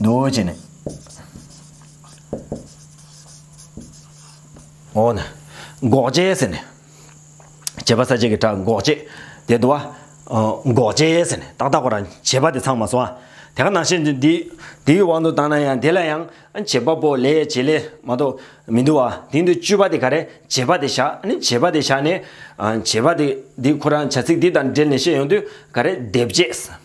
རྡོ་རྗེ་ནི། འོ་ན། འགོག་བྱེད་ཟེར་ནས། བྱེད་པ་ས་བཅད་ཀྱི་སྒྲ་འགོག་བྱེད། དེ་དུ་བ། འགོག་བྱེད་ཟེར་ནས་ཏག་ཏག་པོ་རང་བྱེད་པ་དེ་ཚང་མ་སོང་ཨ། དེ་ག་ནང་བཞིན་དུ་འདི། འདིའི་དབང་དུ་བཏང་ན་ཡང་དེ་ལ་ཡང། བྱེད་པ་པོ་ལས་བྱེད་ལས་མ་གཏོགས་མི་འདུ་བ། དེ་འདུ་བཅུ་པ་དེ་ག་རེ། བྱེད་པ་དེ་བཞག་ནི་བྱེད་པ་དེ་བཞག་ནས། བྱེད་པ་དེ་འདི་ཁོ་རང་བྱ་ཚིག་འདི་དང་འབྲེལ་ནས་བཤད་ཡོང་དུས་ག་རེ། སྡེབ་བྱེད།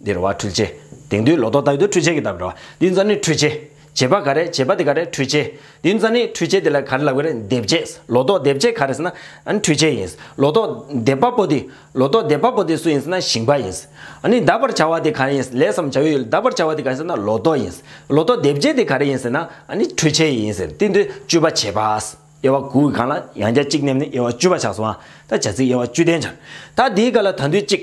འདིར་བ་འཁྲུལ་བྱེད། དེང་དུས་ལོ་ཏོག་ལྟ་བུའི་དུས་འཁྲུལ་བྱེད་ཀྱི་བརྡ་འགྲོ། འདི་རྩ་ནི་འཁྲུལ་བྱེད། བྱེད་པ་ག་རེ་བྱེད་པ་དེ་ག་རེ་འཁྲུལ་བྱེད། འདི་རྩ་ནི་འཁྲུལ་བྱེད་དེ་ལ་ག་རེ་ལབ་ག་རེ་འདེབས་བྱེད། ལོ་ཏོག་འདེབས་བྱེད་ག་རེ་ཟེར་ན། འཁྲུལ་བྱེད་ཡིན། ལོ་ཏོག་འདེབས་པ་པོ་དེ། ལོ་ཏོག་འདེབས་པ་པོ་དེ་སུ་ཡིན་ཟེར་ན་ཞིང་པ་ཡིན། ནི་གདབ་པར་བྱ་བ་དེ་ག་རེ་ཡིན། ལས་སམ་བྱ་བའི་ཡུལ་གདབ་པར་བྱ་བ་དེ་ག་རེ་ཟེར་ན་ལོ་ཏོག་ཡིན། ལོ་ཏོག་འདེབས་བྱེད་དེ་ག་རེ་ཡིན་ཟེར་ན། ནི་འཁྲུལ་བྱེད་ཡིན། ཟེར་ཏེ་འདིར་བཅུ་པ་བྱེད་པ། དབྱེ་བ་དགུ་གི་གང་ལ་ཡང་རྒྱ་གཅིག་བསྣེབས་ནས་དབྱེ་བ་བཅུ་པ་ཆགས་སོ། ད་བྱ་ཚིག་དབྱེ་བ་བཅུ་ལྡན་སྦྱར། ད་དེའི་སྐབས་ལ་ད་འདུས་གཅིག།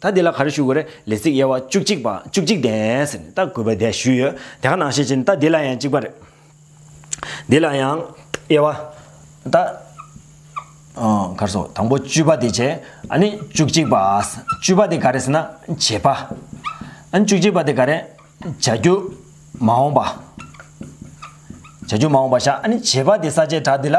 ད་འདི་ལ་ག་རེ་ཞུ་དགོས་རེད་ལས་ཚིག་དབྱེ་བ་བཅུ་གཅིག་པ་བཅུ་གཅིག་ལྡན་ཟེར་ནས་ད་གུས་པ་བསྡད་ཞུས་ཡོད་དེ་ག་ནང་ཤེས་ཀྱི་ད་འདི་ལ་ཡང་གཅིག་པ་རེད། འདི་ལ་ཡང་དབྱེ་བ་ད་གར་སོང་དང་པོ་བཅུ་པ་དེ་བྱས་ཨ་ནི་བཅུ་གཅིག་པ་བཅུ་པ་དེ་ག་རེ་ཟེར་ན་བྱེད་པ་ཨ་ནི་བཅུ་གཅིག་པ་དེ་ག་རེ་བྱ་རྒྱུ་མ་འོངས་པ་བྱ་རྒྱུ་མ་འོངས་པ་བྱ་ཨ་ནི་བྱེད་པ་དེ་ས་བཅད་གྲགས་འདི་ལ།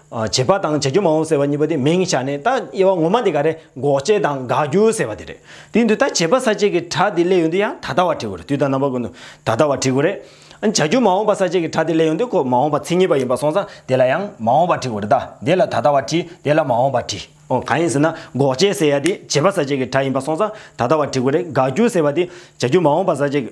བྱེད་པ་དང་བྱ་རྒྱུ་མ་འོངས་ཟེར་བ་གཉིས་པ་དེ་མིང་བཞག་ནས་ད་དབྱེ་བ་ངོ་མ་འདི་ག་རེ་འགོག་བྱེད་དང་དགག་རྒྱུ་ཟེར་བ་དེ་རེད། དེ་འདུག་ད་བྱེད་པ་ས་བཅད་ཀྱི་གྲགས་དེ་སླད་ཡོང་དུས་ཡང་ད་ལྟ་བ་བྲི་དགོས་རེད་དུས་དང་རྣམ་པ་ཀུན་ཏུ་ད་ལྟ་བ་བྲི་དགོས་རེད། བྱ་རྒྱུ་མ་འོངས་པ་ས་བཅད་ཀྱི་གྲགས་དེ་སླད་ཡོང་དུས་ཁོ་མ་འོངས་པ་མཚན་ཉིད་པ་ཡིན་པར་སོང་ཙང་དེ་ལ་ཡང་མ་འོངས་པ་བྲི་དགོས་རེད་ད་དེ་ལ་ད་ལྟ་བ་བྲིས་དེ་ལ་མ་འོངས་པ་བྲིས། ཨོ་གང་ཡིན་ཟེར་ན་འགོག་བྱེད་ཟེར་ཡ་དེ་བྱེད་པ་ས་བཅད་ཀྱི་གྲགས་ཡིན་པར་སོང་ཙང་ད་ལྟ་བ་བྲི་དགོས་རེད་དགག་རྒྱུ་ཟེར་བ་དེ་བྱ་རྒྱུ་མ་འོངས་པ་ས་བཅད་ཀྱི།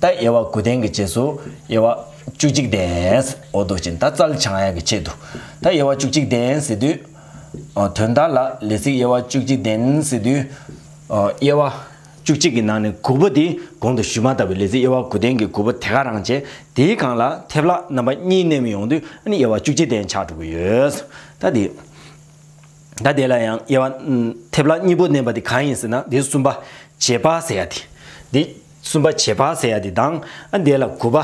ད་དབྱེ་བ་དགུ་ལྡན་གྱི་རྗེས་སུ་དབྱེ་བ་བཅུ་གཅིག་ལྡན་འོ་དོ་ཅན་ད་ཙལ་བྱང་ཡག་གི་ཆེད་དུ་ད་དབྱེ་བ་བཅུ་གཅིག་ལྡན་ཟེར་དུས། དོན་དག་ལ་ལས་ཚིག་དབྱེ་བ་བཅུ་གཅིག་ལྡན་ཟེར་དུས། དབྱེ་བ་བཅུ་གཅིག་གི་ནང་ནས་དགུ་པོ་དེ་གོང་དུ་ཞུས་མ་ལྟ་བུའི་ལས་ཚིག་དབྱེ་བ་དགུ་ལྡན་གྱི་དགུ་པོ་དེ་ག་རང་བྱེད་དེའི་གང་ལ་ཐེབས་ལ་རྣམ་པ་གཉིས་བསྣན་མི་ཡོང་དུས་ཨ་ནི་དབྱེ་བ་བཅུ་གཅིག་ལྡན་ཆགས་འགྲོ་གི་ཡོད། ད་དེ། ད་དེ་ལ་ཡང་དབྱེ་བ་ཐེབས་ལ་གཉིས་པོ་བསྣན་པ་དེ་གང་ཡིན་ཟེར་ན་དེ་གསུམ་པ་བྱེད་པ་ཟེར་ཡ་དེ། གསུམ་པ་བྱེད་པ་ཟེར་ཡ་དེ་དང་ཨ་འདས་ལ་དགུ་པ་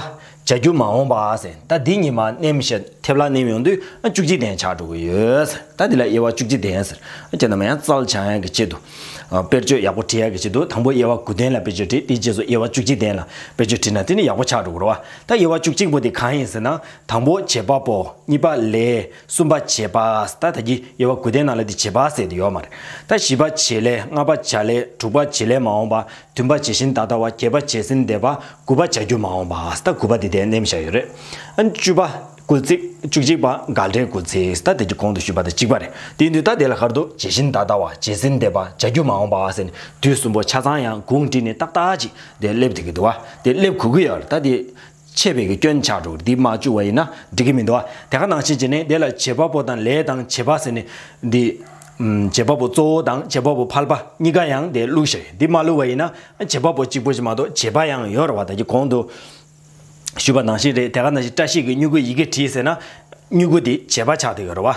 བྱ་རྒྱུ་མ་འོངས་པ་ཟེར་ད་འདི་ཉིན་མ་ནེམ་ཞེ་ཐེབ་ལ་ནེམ་ཡོང་དུས་ཨ་བཅུ་གཅིག་དན་ཆགས་འགྲོ་གི་ཡོད་ཟེར་ད་འདི་ལ་དབྱེ་བ་བཅུ་གཅིག་དན་ཟེར་ཨ་ཁྱེད་རྣམས་ཡང་རྩལ་བྱང་ཡག་གི་ཆེད་དུ་དཔེར་བརྗོད་ཡག་པོ་བྲི་ཡག་གི་ཆེད་དུ་དང་པོ་དབྱེ་བ་དགུ་དན་ལ་དཔེར་བརྗོད་བྲི་དེའི་རྗེས་སུ་དབྱེ་བ་བཅུ་གཅིག་དན་ལ་དཔེར་བརྗོད་བྲི་ན་དེ་ནི་ཡག་པོ་ཆགས་འགྲོ་གི་རོ་ཨ་ད་དབྱེ་བ་བཅུ་གཅིག་པོ་དེ་གང་ཡིན་ཟེར་ན་དང་པོ་བྱེད་པ་པོ་གཉིས་པ་ལས་གསུམ་པ་བྱེད་པ་ཟེར་ད་ད་གི་དབྱེ་བ་དགུ་དན་ནང་ལ་དེ་བྱེད་པ་ཟེར་དེ་ཡོད་མ་རེད་ད་བཞི་པ་བྱེད་ལས་ལྔ་པ་བྱ་ལས་དྲུག་པ་བྱེད་ལས་མ་འོངས་པ་བདུན་པ་ཇི་བཞིན་ད་ལྟ་བ་བརྒྱད་པ་བྱད་སེམས་འདས་པ་དགུ་པ་བྱ་རྒྱུད་མ་འོངས་པ་ཨཱ་སྟ་དགུ་པ་འདི་ལྟའི་གནས་མི་བྱ་ཡོད་རེད། བཅུ་པ་ཀུལ་ཚིག་བཅུ་གཅིག་པ་དགའ་བྲལ་ཀུལ་ཚིག་ཨཱ་སྟ་དེ་གྱི་གོང་དུ་ཞུས་པ་དང་གཅིག་པ་རེད་དེ་ཡིན་དུས་ད་དེ་ལ་ཁར་དུ་ཇི་བཞིན་ད་ལྟ་བ་བྱད་སེམས་འདས་པ་བྱ་རྒྱུད་མ་འོངས་པ་ཨཱ་ཟེར་ནས་དུས་གསུམ་པོ་ཆ་ཚང་ཡང་གུང་བྲིས་ནས་ཏག་ཏག་ཅིག་དེ་སླེབས་ཐུབ་ཀྱི་འདུག་བ་དེ་སླེབས་གོ་གི་ཡོད་རེད་ད་དེ། ཆད་པའི་གི་སྐྱོན་ཆགས་དྲུག་འདི་མ་བཅུག་བ་ཡིན་ན་འགྲིག་གི་མི་འདུག་དེ་ག་ནང་བཞིན་བྱས་ནས་དེ་ལ་བྱེད་པ་པོ་དང་ལས་དང་བྱེད་པ་ཟེར་ནས་འདི། བྱེད་པ་པོ་གཙོ་བོ་དང་བྱེད་པ་པོ་ཕལ་པ་གཉིས་ཀ་ཡང་དེ་བླུགས་ཤིག་འདི་མ་བླུགས་བ་ཡིན་ན་བྱེད་པ་པོ་གཅིག་པོ་ཞིག་མ་གཏོགས་བྱེད་པ་ཡང་ཡོད་རེད་བ་ད་ཀྱི་གོང་དུ། ཞུས་པ་ནང་བཞིན་རེད་དེ་ག་ནང་བཞིན་བཀྲ་ཤིས་ཀྱི་སྨྱུ་གུ་ཡི་གེ་བྲིས་ཟེར་ན། སྨྱུ་གུ་དེ་བྱེད་པ་ཆགས་འདུག་གི་རེད་བ།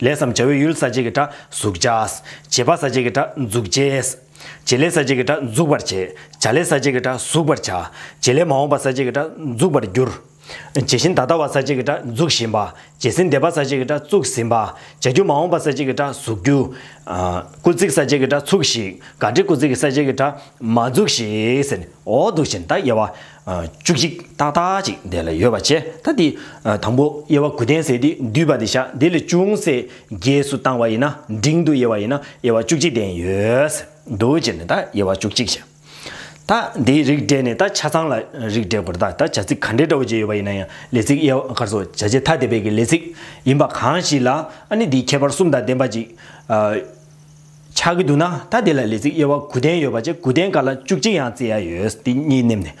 ལས་སམ་བྱ་བའི་ཡུལ་ས་བཅད་ཀྱི་སྒྲ་གཟུགས་བྱ། བྱེད་པ་ས་བཅད་ཀྱི་སྒྲ་འཛུགས་བྱེད། བྱེད་ལས་ས་བཅད་ཀྱི་སྒྲ་འཛུགས་པར་བྱེད། བྱ་ལས་ས་བཅད་ཀྱི་སྒྲ་གཟུགས་པར་བྱ། བྱེད་ལས་མ་འོངས་པ་ས་བཅད་ཀྱི་སྒྲ་འཛུགས་པར་འགྱུར། བྱེད་བཞིན་ད་ལྟ་བ་ས་བཅད་ཀྱི་སྒྲ་འཛུགས་བཞིན་པ། བྱེད་ཟིན་འདས་པ་ས་བཅད་ཀྱི་སྒྲ་བཙུགས་ཟིན་པ། བྱ་རྒྱུ་མ་འོངས་པ་ས་བཅད་ཀྱི་སྒྲ་གཟུགས་རྒྱུ། སྐུལ་ཚིག་ས་བཅད་ཀྱི་སྒྲ་ཚུགས་ཤིག། ག་དྲི་སྐུལ་ཚིག་གི་ས་བཅད་ཀྱི་སྒྲ་མ་འཛུགས་ཤིག། འོག་ཏུ་བཞིན་བརྡ་དབྱེ་བ། བཅུ་གཅིག་ཏག་ཏག་ཅིག་བཟླས་ལ་ཡོལ་བ་བྱས་ད་དེ། དང་པོ་དབྱེ་བ་དགུ་ལྡན་ཟས་དེ་འདུས་པ་དེ་བཞག་དེ་ལས་ཅུང་ཟད་རྒྱས་སུ་བཏང་བ་ཡིན་ན་འབྲིང་དུ་དབྱེ་བ་ཡིན་ན་དབྱེ་བ་བཅུ་གཅིག་ལྡན་ཡོད། འདུ་བྱེད་ནས་ད་དབྱེ་བ་བཅུ་གཅིག་བྱས། ད་དེའི་རིགས་འགྲེས་ནས་ད་ཆ་ཚང་ལ་རིགས་འགྲེས་དགོས་ད་ད་བྱ་ཚིག་ག་འདྲའི་འདྲ་བོ་བརྗེས་ཡོད་པ་ཡིན་ན་ཡང་ལས་ཚིག་དབྱེ་བ་ཁར་སོགས་བྱ་བྱེད་ཐ་དད་པའི་ཀྱི་ལས་ཚིག་ཡིན་པ་གང་ཞིག་ལ་ཨ་ནི་དེའི་ཁྱད་པར་གསུམ་དང་ལྡན་པ་ཅིག། ཆགས་ཀྱི་འདུག་ན་ད་དེ་ལ་ལས་ཚིག་དབྱེ་བ་དགུ་ལྡན་ཡོད་པ་བཅས་དགུ་ལྡན་ག་ལ་བཅུ་གཅིག་ཡང་བརྩི་ཡ་ཡོད་འདི་གཉིས་བསྣེམས་ནས་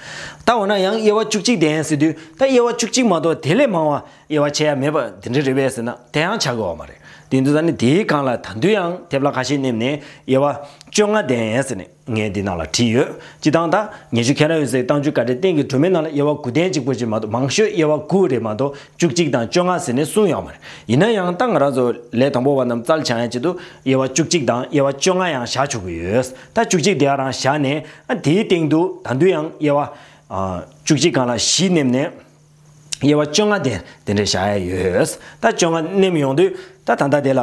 བལྟ་བ་ན་ཡང་དབྱེ་བ་བཅུ་གཅིག་ལྡན་ཟེར་དུས་ད་དབྱེ་བ་བཅུ་གཅིག་མ་གཏོགས་དེ་ལས་མང་བ་དབྱེ་བ་ཕྱེ་ཡ་མེད་པ་འདི་འདྲ་རེད་བས་ཟེར་ན་དེ་ཡང་ཆགས་ཀྱི་འོག་མ་རེད་དེ་འདུག་ད་ནི་དེའི་སྒང་ལ་ད་འདུལ་ཡང་དེ་བལ་ཁ་ཤས་བསྣེམས་ནས་དབྱེ་བ་བཅོ་ལྔ་ལྡན་ཟེར་ནས། ངས་འདི་ནང་ལ་བྲིས་ཡོད། སྤྱི་བཏང་དང། ཉེ་ཆུ་ཁེན་ར་ཡོད་ཟེར་བཏང་ཆུ་ཀ་རའི་སྟེང་གི་གྲོ་མའི་ནང་ལ་དབྱེ་བ་དགུ་ལྡན་གཅིག་པོ་གཅིག་མ་གཏོགས་མང་ཤོས་དབྱེ་བ་དགུ་རེ་མ་གཏོགས་བཅུ་གཅིག་དང་བཅོ་ལྔ་ཟེར་ནས་གསུང་ཡོང་བ་རེད། ཡིན་ན་ཡང་ད་ང་རང་ཚོ་ལས་དང་པོ་བ་རྣམས་རྩལ་བྱང་ཡན་ཆད་དུ་དབྱེ་བ་བཅུ་གཅིག་དང་དབྱེ་བ་བཅོ་ལྔ་ཡང་བཞག་ཆོག་གི་ཡོད། ད་བཅུ་གཅིག་དེ་ག་རང་བཞག་ནས། དེའི་སྟེང་དུ་ད་དུང་ཡང་དབྱེ་བ། བཅུ་གཅིག་གང་ལ་བཞི་བསྣེབས་ནས། དབྱེ་བ་བཅོ་ལྔ་དེ་དེ་འདྲས་བཞག་ཡས་ཡོད། ད་བཅོ་ལྔ་མནན་ཡོང་དུས་ད་ད་ལྟ་དེ་ལ།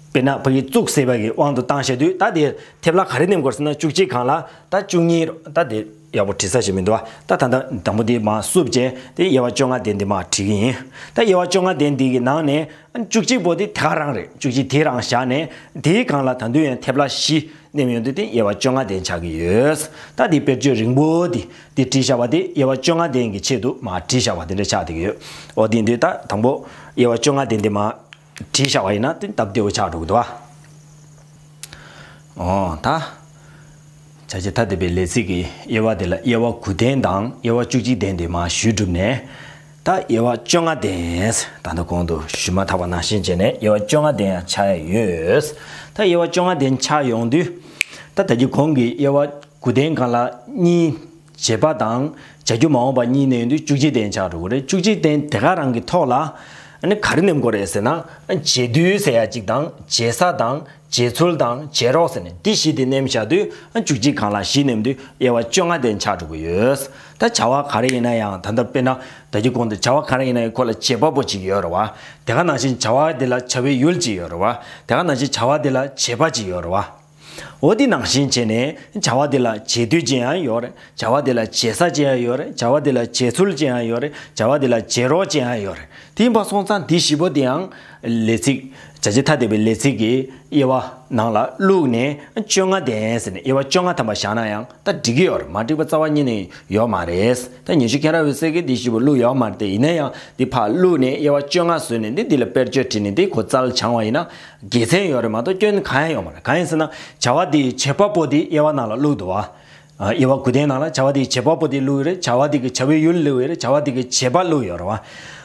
དཔེར་ན་བོད་ཡིག་བཙུགས་ཟེར་བ་གི་དབང་དུ་བཏང་བྱས་དུས་ད་དེ་དེབ་ལ་ག་རེ་མནན་དགོས་ཟེར་ན་བཅུ་གཅིག་གང་ལ་ད་བཅུ་གཉིས་རོ་ད་དེ་ཡག་པོ་བྲིས་ས་ཞིག་མི་འདུག་ད་ད་ད་དང་པོ་དེ་མ་བསུབ་རྗེས་དེ་དབྱེ་བ་བཅོ་ལྔ་དེ་འདི་མ་བྲིས་གི་ཡིན། ད་དབྱེ་བ་བཅོ་ལྔ་དེ་འདི་གི་ནང་ནས། བཅུ་གཅིག་པོ་དེ་དེ་ག་རང་རེད་བཅུ་གཅིག་དེ་རང་བཞག་ནས་དེའི་སྒང་ལ་ད་དུས་ཡན་ཐེབས་ལ་བཞི་བསྣེམས་ཡོང་དུས་དེ་དབྱེ་བ་བཅོ་ལྔ་ལྡན་ཆགས་ཀྱི་ཡོད། ད་དེའི་དཔེར་བརྗོད་རིང་པོ་དེ་དེ་བྲིས་བཞག་པ་དེ་དབྱེ་བ་བཅོ་ལྔ་ལྡན་གྱི་ཆེད་དུ་མ་བྲིས་བཞག་པ་དེ་འདྲ་ཆགས་འདུག་ཡོད། ཨོ་དེ་འདུས་ད་དང་པོ་དབྱེ་བ་བཅོ་ལྔ་ལྡན་དེ་མ་བྲིས་བཞག་པ་ཡིན་ན་དེ་སྟབས་བདེ་བོ་ཆགས་འགྲོ་གི་འདུག་ཨ། འོ་ད། བྱ་བྱེད་ཐ་དད་པའི་ལས་ཚིག་གི་དབྱེ་བ་དེ་ལ་དབྱེ་བ་དགུ་ལྡན་དང་དབྱེ་བ་བཅུ་གཅིག་ལྡན་དེ་མ་ཞུས་བསྒྲུབས་ནས། ད་དབྱེ་བ་བཅོ་ལྔ་ལྡན། ད་ལྟ་གོང་དུ་ཞུས་མ་ཐག་པ་ནང་བཞིན་བྱས་ནས་དབྱེ་བ་བཅོ་ལྔ་ལྡན་ཡང་ཆགས་ཡས་ཡོད། ད་དབྱེ་བ་བཅོ་ལྔ་ལྡན་ཆགས་ཡོང་དུས། ད་ད་ཀྱི་གོང་གི་དབྱེ་བ་དགུ་ལྡན་གང་ལ་གཉིས། བྱེད་པ་དང་བྱ་རྒྱུ་མ་འོངས་པ་གཉིས་ནི་བཅུ་གཅིག་སྟེང་ཆགས་འགྲོ་གི་རེད་བཅུ་གཅིག་སྟེང་དེ་ག་རང་གི་ཐོག་ལ་ག་རེ་ནེམ་དགོས་རེད་ཟེར་ན་བྱེད་དུས་ཟེར་ཡ་གཅིག་དང་བྱེད་ས་དང་བྱེད་ཚུལ་དང་བྱེད་རོགས་ཟེར་ནས་འདི་བཞི་དེ་ནེམ་བཞག་དུས་བཅུ་གཅིག་གང་ལ་བཞི་ནེམ་དུས་དབྱེ་བ་བཅོ་ལྔ་སྟེང་ཆགས་འགྲོ་གི་ཡོད་ད་བྱ་བ་ག་རེ་ཡིན་ན་ཡང་ད་ལྟ་དཔེར་ན་ད་ཀྱི་གོང་དུ་བྱ་བ་ག་རེ་ཡིན་ན་ཡང་ཁོ་ལ་བྱེད་པ་པོ་གཅིག་ཡོད་རེད་བ་དེ་ག་ནང་བཞིན་བྱ་བ་དེ་ལ་བྱ་བའི་ཡུལ་གཅིག་ཡོད་རེད་བ་དེ་ག་ནང་བཞིན་བྱ་བ་དེ་ལ་བྱེད་པ་གཅིག་ཡོད་རེད་བ། འོ་དེ་ནང་བཞིན་བྱས་ནས། བྱ་བ་དེ་ལ་བྱེད་དུས་ཅན་ཡང་ཡོད། བྱ་བ་དེ་ལ་བྱེད་ས་ཅན་ཡང་ཡོད། བྱ་བ་དེ་ལ་བྱེད་ཚུལ་ཅན་ཡང་ཡོད། བྱ་བ་དེ་ལ་བྱེད་རོགས་ཅན་ཡང་ཡོད། དེ་ཡིན་པ་སོང་ཙང་དེ་བཞི་པོ་དེའང། ལས་ཚིག། བྱ་བྱེད་ཐ་དད་པའི་ལས་ཚིག་གི་དབྱེ་བ། ནང་ལ་བླུགས་ནས་བཅོ་ལྔ་ལྡན་ཟེར་ནས་དབྱེ་བ་བཅོ་ལྔ་ཐམ་པ་བཞག་ན་ཡང་ད་འགྲིག་གི་ཡོད། མ་འགྲིག་པ་རྩ་བ་ཉིད་ནས་ཡོད་མ་རེད། ད་ཉི་ཤུ་མཁན་ར་བའི་གསེར་གྱི་དེ་བཞི་པོ་བླུགས་ཡོད་མ་རེད་ཡིན་ན་ཡང་དེ་ཕར་བླུགས་ནས་དབྱེ་བ་བཅོ་ལྔ་བཟོས་ནས་དེ་དེ་ལ་དཔེར་བརྗོད་བྲིས་ནས་དེ་གོ་རྩལ་བྱང་བ་ཡིན་ན། དགེ་མཚན་ཡོད་རེད་མ་གཏོགས་སྐྱོན་གང་ཡང་ཡོད་མ་རེད་གང་ཡིན་ཟེར་ན་བྱ་བ་དེའི་བྱེད་པ་པོ་དེ་དབྱེ་བ་ནང་ལ་བླུག་འདུག་བ། དབྱེ་བ་གུ་དེའི་ནང་ལ་བྱ་བ་དེའི་བྱེད་པ་པོ་དེ་བླུག་ཡོད་རེད་བྱ་བ་དེ་གི་བྱ་བའི་ཡུལ་བླུག་ཡོད་རེད་བྱ་བ་དེ་གི་བྱེད་པ་བླུག་ཡོད་རེད་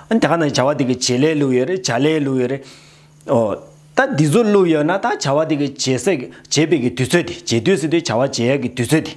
བ། ད་ག་ནང་བྱ་བ་དེ་གི་བྱེད་ལས་བླུག་ཡོད་རེད་བྱ་ལས་བླུག་ཡོད་རེད། ཨོ། ད་འདི་ཚོ་བླུག་ཡོད་ན་ད་བྱ་བ་དེ་གི་བྱེད་སའི་བྱེད་པའི་གི་དུས་ཚོད་དེ་བྱེད་དུས་སུ་དེ་བྱ་བ་བྱེད་ཡས་གི་དུས་ཚོད་དེ།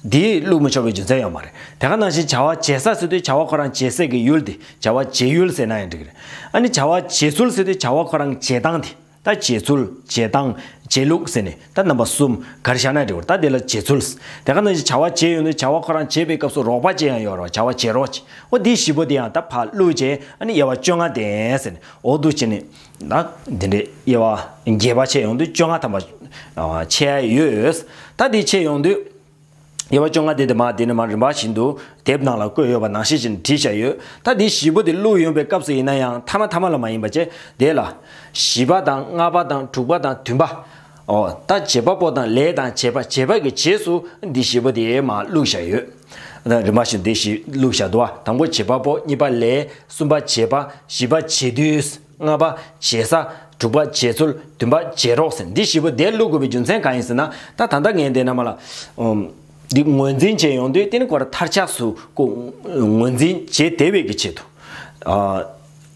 དེས་བླུགས་མི་ཆོག་པའི་རྒྱུ་མཚན་ཡང་མ་རེད། དེ་ག་ནང་བཞིན་བྱ་བ་བྱེད་ས་ཟེར་དུས་བྱ་བ་ཁོ་རང་བྱེད་སའི་གི་ཡུལ་དེ་བྱ་བ་བྱེད་ཡུལ་ཟེར་ན་ཡང་འགྲིག་རེད། ཨ་ནི་བྱ་བ་བྱེད་ཚུལ་ཟེར་དུས་བྱ་བ་ཁོ་རང་བྱེད་སྟངས་དེ་ད་བྱེད་ཚུལ་བྱེད་སྟངས་བྱེད་ལུགས་ཟེར་ནས་ད་རྣམ་པ་གསུམ་གར་བཞག་ན་འགྲིག་བར་ད་དེ་ལ་བྱེད་ཚུལ། དེ་ག་ནང་བཞིན་བྱ་བ་བྱེད་ཡོང་དུས་བྱ་བ་ཁོ་རང་བྱེད་པའི་སྐབས་སུ་རོགས་པ་བྱེད་ཡང་ཡོད་རོགས་བྱ་བ་བྱེད་རོགས་བྱེད་འོ་དེའི་བཞི་པོ་དེ་ཡང་ད་བག་བླུགས་བྱས་ཨ་ནི་དབྱེ་བ་བཅོ་ལྔ་ལྡན་ཟེར་ནས་འོག་ཏུ་བྱས་ནས་ན། འདི་འདྲའི་དབྱེ་བ་རྒྱས་པ་ཕྱེད་ཡོང་དུས་བཅོ་ལྔ་ཐམ་པ། ཕྱེད་ཡོད། ད་དེ་ཕྱེད་ཡོང་དུས། དབྱེ་བ་བཅོ་ལྔ་དེ་དེ་མ་དེ་ནས་མར་རིམ་པ་བཞིན་དུ་དེབ་ནང་ལ་བཀོད་ཡོད་པ་ནང་བཤད་བཞིན་བྲིས་བཞག་ཡོད། ད་དེ་བཞི་པོ་དེ་བླུགས་ཡོང་པའི་སྐབས་སུ་ཡིན་ན་ཡང་མཐའ་མ་མཐའ་མ་ལ་མ་ཡིན་པ་བཅས་དེ་ལ། བཞི་པ་དང་ལྔ་པ་དང་དྲུག་པ་དང་བདུན་པ། ཨོ་ད་བྱེད་པ་པོ་དང་ལས་དང་བྱེད་པ་བྱེད་པ་གི་རྗེས་སུ་འདི་བཞི་པོ་དེའི་མ་ལུག་བཞག་ཡོད། རིམ་པ་བཞིན་དེ་བཞི་ལུག་བཞག་དུ་བ་དང་པོ་བྱེད་པ་པོ་གཉིས་པ་ལས་གསུམ་པ་བྱེད་པ་བཞི་པ་བྱེད་དུས་ལྔ་པ་བྱེད་ས་དྲུག་པ་བྱེད་ཚུལ་བདུན་པ་བྱེད་རོགས་ཟེར་འདི་བཞི་པོ་དེ་ལུག་དགོས་པའི་རྒྱུ་མཚན་གང་ཡིན་ཟེར་ན་ད་ད་ལྟ་ངས་འདི་རྣམས་ལ་འདི་ངོས་འཛིན་བྱེད་ཡོང་དུས་རྟེན་གོ་ར་མཐར་ཆགས་སུ་ངོས་འཛིན་བྱེད་དེ་བས་ཀྱི་ཆེད་དུ།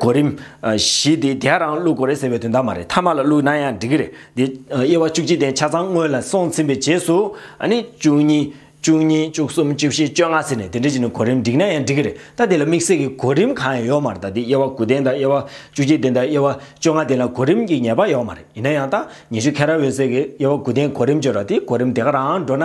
གོ་རིམ། བཞི་དེ་དེའ་རང་བླུག་གོ་རེད་ཟེར་བའི་དོན་དག་མ་རེད་ཐ་མ་ལ་བླུག་ན་ཡང་འགྲིག་གི་རེད་དེ། དབྱེ་བ་བཅུ་གཅིག་སྟེ་ཆ་ཚང་སྔོན་ལ་སོང་ཚིམ་པའི་རྗེས་སུ། བཅུ་གཉིས། བཅུ་གཉིས་བཅུ་གསུམ་བཅུ་བཞི་བཅོ་ལྔ་ཟེར་ནས་དེ་འདྲ་བྱས་ནས་གོ་རིམ་བསྒྲིགས་ན་ཡང་འགྲིག་གི་རེད་ད་དེ་ལ་དམིགས་བསལ་གྱི་གོ་རིམ་གང་ཡང་ཡོད་མ་རེད་ད་དེ་དབྱེ་བ་དགུ་ལྡན་དང་དབྱེ་བ་བཅུ་གཅིག་ལྡན་དང་དབྱེ་བ་བཅོ་ལྔ་ལྡན་ལ་གོ་རིམ་གྱི་ངེས་པ་ཡོད་མ་རེད་ཡིན་ན་ཡང་ད་ཉི་ཤུ་ཁ་ར་འོད་ཟེར་གྱིས་དབྱེ་བ་དགུ་ལྡན་གོ་རིམ་བརྗོད་ར་དེ་གོ་རིམ་དེ་ག་རང་འགྲོ་ན་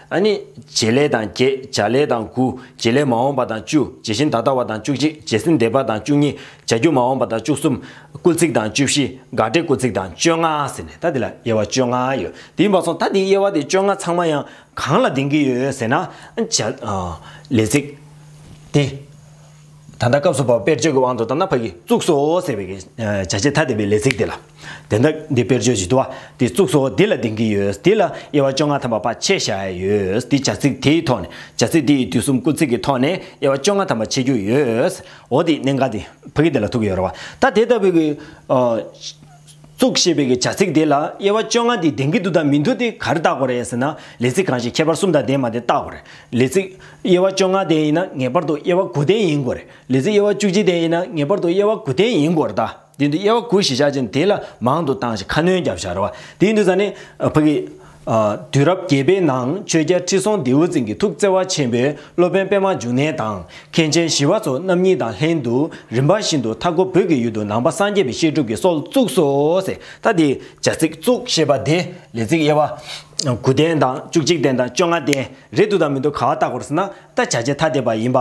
ཨ་ནི། བྱེད་ལས་དང་བརྒྱད་བྱ་ལས་དང་དགུ་བྱེད་ལས་མ་འོངས་པ་དང་བཅུ་བྱེད་ཤིང་ད་ལྟ་བ་དང་བཅུ་གཅིག་བྱེད་སེམས་འདས་པ་དང་བཅུ་གཉིས་བྱ་རྒྱུ་མ་འོངས་པ་དང་བཅུ་གསུམ་སྐུལ་ཚིག་དང་བཅུ་བཞི་དགག་སྒྲའི་སྐུལ་ཚིག་དང་བཅོ་ལྔ་ཟེར་ནས་ད་འདི་ལ་དབྱེ་བ་བཅོ་ལྔ་ཡོད་དེ་ཡིན་པ་སོང་ད་འདིའི་དབྱེ་བ་དེ་བཅོ་ལྔ་ཚང་མ་ཡང་གང་ལ་ལྡིང་གི་ཡོད་ཟེར་ན། བྱ། ལས་ཚིག། དེ། ད་ལྟ་སྐབས་སུ་བབ་དཔེར་བརྗོད་ཀྱི་དབང་དུ་བཏང་ན་ཕ་གིས་བཙུགས་སོ་ཟེར་བའི་བྱ་བྱེད་ཐ་དད་པའི་ལས་ཚིག་དེ་ལ། དེ་ལྟ་འདི་དཔེར་བརྗོད་བྱེད་དུ་བ་དེ་བཙུགས་སོ་དེ་ལ་བདེན་གྱི་ཡོད་དེ་ལ་དབྱེ་བ་བཅོ་ལྔ་ཐམ་པ་པ་ཕྱེད་བཞག་ཡོད་དེ་བྱ་ཚིག་དེའི་ཐོག་ནས་བྱ་ཚིག་དེ་ཡི་དུས་གསུམ་སྐུ་ཚིག་གི་ཐོག་ནས་དབྱེ་བ་བཅོ་ལྔ་ཐམ་པ་ཕྱེད་རྒྱུ་ཡོད་འོ་དེ་གནད་འགག་སྟེ་ཕ་གིས་དེ་ལ་ཐུག་གི་ཡོད་རེད་བ་ད་དེ་ལྟ་བུའི། གཙུག་ཞེས་པའི་གི་བྱ་ཚིག་དེ་ལ་དབྱེ་བ་བཅོ་ལྔ་འདི་ལྡན་གྱི་འདུག་དང་མི་འདུག་དེ་ག་རེ་བརྟག་པ་རེད་ཟེར་ན་ལས་ཚིག་གང་ཞིག་ཁྱད་པར་གསུམ་དང་ལྡན་མ་དེ་བརྟག་པ་རེད། ལས་ཚིག། དབྱེ་བ་བཅོ་ལྔ་ལྡན་ཡིན་ན་ངེས་པར་དུ་དབྱེ་བ་དགུ་ལྡན་ཡིན་དགོས་རེད། ལས་ཚིག་དབྱེ་བ་བཅུ་གཅིག་ལྡན་ཡིན་ན་ངེས་པར་དུ་དབྱེ་བ་དགུ་ལྡན་ཡིན་དགོས་རེད་ད། དེ་འདུག་དབྱེ་བ་དགུ་ཞེས་བྱ་ཅན་དེ་ལ་མང་དུ་བཏང་ཞིང་ཁ་སྣོན་བརྒྱབ་བྱ་རེད་བ། དེ་འདུག་ཟ་ནི། ཕ་གི། དུས་རབས་བརྒྱད་པའི་ནང་ཆོས་རྒྱལ་ཁྲི་སྲོང་ལྡེའུ་བཙན་གྱི་ཐུགས་བརྩེ་བ་ཆེན་པོས་སློབ་དཔོན་པདྨ་འབྱུང་གནས་དང་མཁན་ཆེན་ཞི་བ་འཚོ་རྣམ་གཉིས་དང་ལྷན་དུ་རིམ་པ་བཞིན་དུ་མཐའ་འཁོབ་བོད་ཀྱི་ཡུལ་དུ་ནང་པ་སངས་རྒྱས་པའི་བཤད་སྒྲུབ་ཀྱི་སྲོལ་བཙུགས་སོ། ད་དེའི་བྱ་ཚིག་བཙུགས་ཞེས་པ་དེ་ལས་ཚིག་དབྱེ་བ། དགུ་སྟན་དང་བཅུ་གཅིག་སྟན་དང་བཅོ་ལྔ་སྟན་རེད་འདུག་དང་མི་འདུག་ག་བ་བརྟག་གོ་རེ་ཟེར་ན་ད་བྱ་བྱེད་ཐ་དད་པ་ཡིན་པ།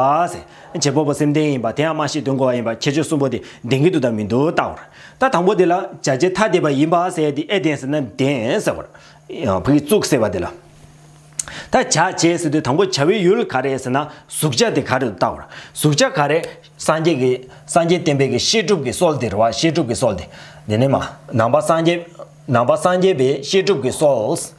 བྱེད་པོ་པོ་སེམས་ལྡན་ཡིན་པ་དེ་ཡང་མ་ཤེས་དོན་གོ་བ་ཡིན་པ་ཁྱད་ཆོས་གསུམ་པོ་དེ་ལྡན་གྱི་འདུག་དང་མི་འདུག་བལྟ་བར་ད་དང་པོ་དེ་ལ་བྱ་བྱེད་ཐ་དད་པ་ཡིན་པ་ཟེར་དེ་ཨེ་ལྡན་ཟེར་ན་ལྡན་ཟེར་བར། བོད་ཀྱི་གཙུག་ཟེར་བ་དེ་ལ། ད་བྱ་བྱེད་ཟེར་དུས་དང་པོ་བྱ་བའི་ཡུལ་ག་རེད་ཟེར་ན་གཟུགས་བྱ་དེ་ག་རེད་དུ་བལྟ་བར། གཟུགས་བྱ་ག་རེ། སངས་རྒྱས་ཀྱི། སངས་རྒྱས་བསྟན་པའི་ཀྱི་བཤད་སྒྲུབ་ཀྱི་སྲོལ་དེར་བ་བཤད་སྒྲུབ་ཀྱི་སྲོལ་དེ། དེ་ནས་མ། ནང་པ་སངས་རྒྱས། ནང་པ་སངས་རྒྱས་པའི་བཤད་སྒྲུབ་ཀྱི་སྲོལ།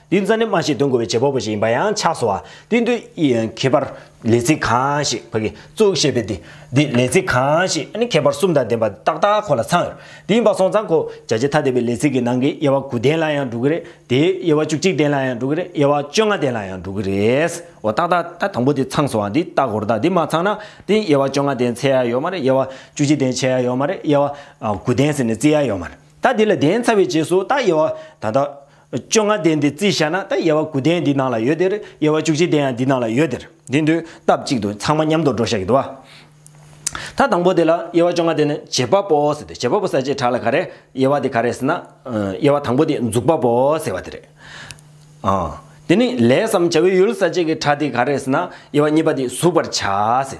འདི་རྩ་ནས་སྨྲ་ཞིག་འདོན་དགོས་པའི་བྱེད་པ་པོ་ཞིག་ཡིན་པ་ཡང་ཆགས་སོ། དེ་འདུལ་ཁྱད་པར་ལས་ཚིག་གང་ཞིག་བག་གིས་བཙུགས་ཞེས་པའི་དེ་འདི་ལས་ཚིག་གང་ཞིག་ནི་ཁྱད་པར་གསུམ་དང་ལྡན་པ་ཏག་ཏག་ཁོ་ལ་ཚང་ཡོད། དེ་ཡིན་པ་སོང་ཙང་ཁོ་བྱ་བྱེད་ཐ་དད་པའི་ལས་ཚིག་གི་ནང་གི་དབྱེ་བ་དགུ་ལྡན་ལ་ཡང་འགྲོ་གི་རེད་དེ། དབྱེ་བ་བཅུ་གཅིག་ལྡན་ལ་ཡང་འགྲོ་གི་རེད་དབྱེ་བ་བཅོ་ལྔ་ལྡན་ལ་ཡང་འགྲོ་གི་རེད། འོ་ཏག་ཏག་ད་དང་པོ་དེ་ཚང་སོང་བ་འདི་ལྟ་གོ་རེ་ད་འདི་མ་ཚང་ན་དེ་དབྱེ་བ་བཅོ་ལྔ་ལྡན་ཚད་ཡ་ཡོད་མ་རེད་དབྱེ་བ་བཅུ་གཅིག་ལྡན་ཆད་ཡ་ཡོད་མ་རེད་དབྱེ་བ་དགུ་ལྡན་ཟེར་ནས་བརྩི་ཡ་ཡོད་མ་རེད་ད་འདི་ལ་ལྡན་ཚར་བའི་རྗེས་སུ་ད་དབྱེ་བ་ད་ལྟ་བཅོ་ལྔ་ལྡན་དེ་རྩིས་བྱ་ན་ད་དབྱེ་བ་དགུ་ལྡན་འདི་ནང་ལ་ཡོད་དེར་དབྱེ་བ་བཅུ་གཅིག་ལྡན་ཡང་འདི་ནང་ལ་ཡོད་དེར་འདི་འདུས་སྟབས་གཅིག་ཏུ་ཚང་མ་མཉམ་དུ་འགྲོ་བཞག་གི་འདུག་ད་དང་པོ་དེ་ལ་དབྱེ་བ་བཅོ་ལྔ་ལྡན་ནི་བྱེད་པ་པོ་ཟེར་ཏེ་བྱེད་པ་པོ་ཟེར་བྱེ་བྲག་ལ་ག་རེ་དབྱེ་བ་དེ་ག་རེ་ཟེར་ན་དབྱེ་བ་དང་པོ་དེ་འཛུགས་པ་པོ་ཟེར་བ་དེ་རེད་ཨ། དེ་ནི་ལས་སམ་བྱ་བའི་ཡུལ་ཟེར་བྱེད་ཀྱི་གྲ་དེ་ག་རེ་ཟེར་ན་དབྱེ་བ་གཉིས་པ་དེ་གཟུགས་པར་བྱ་ཟེར།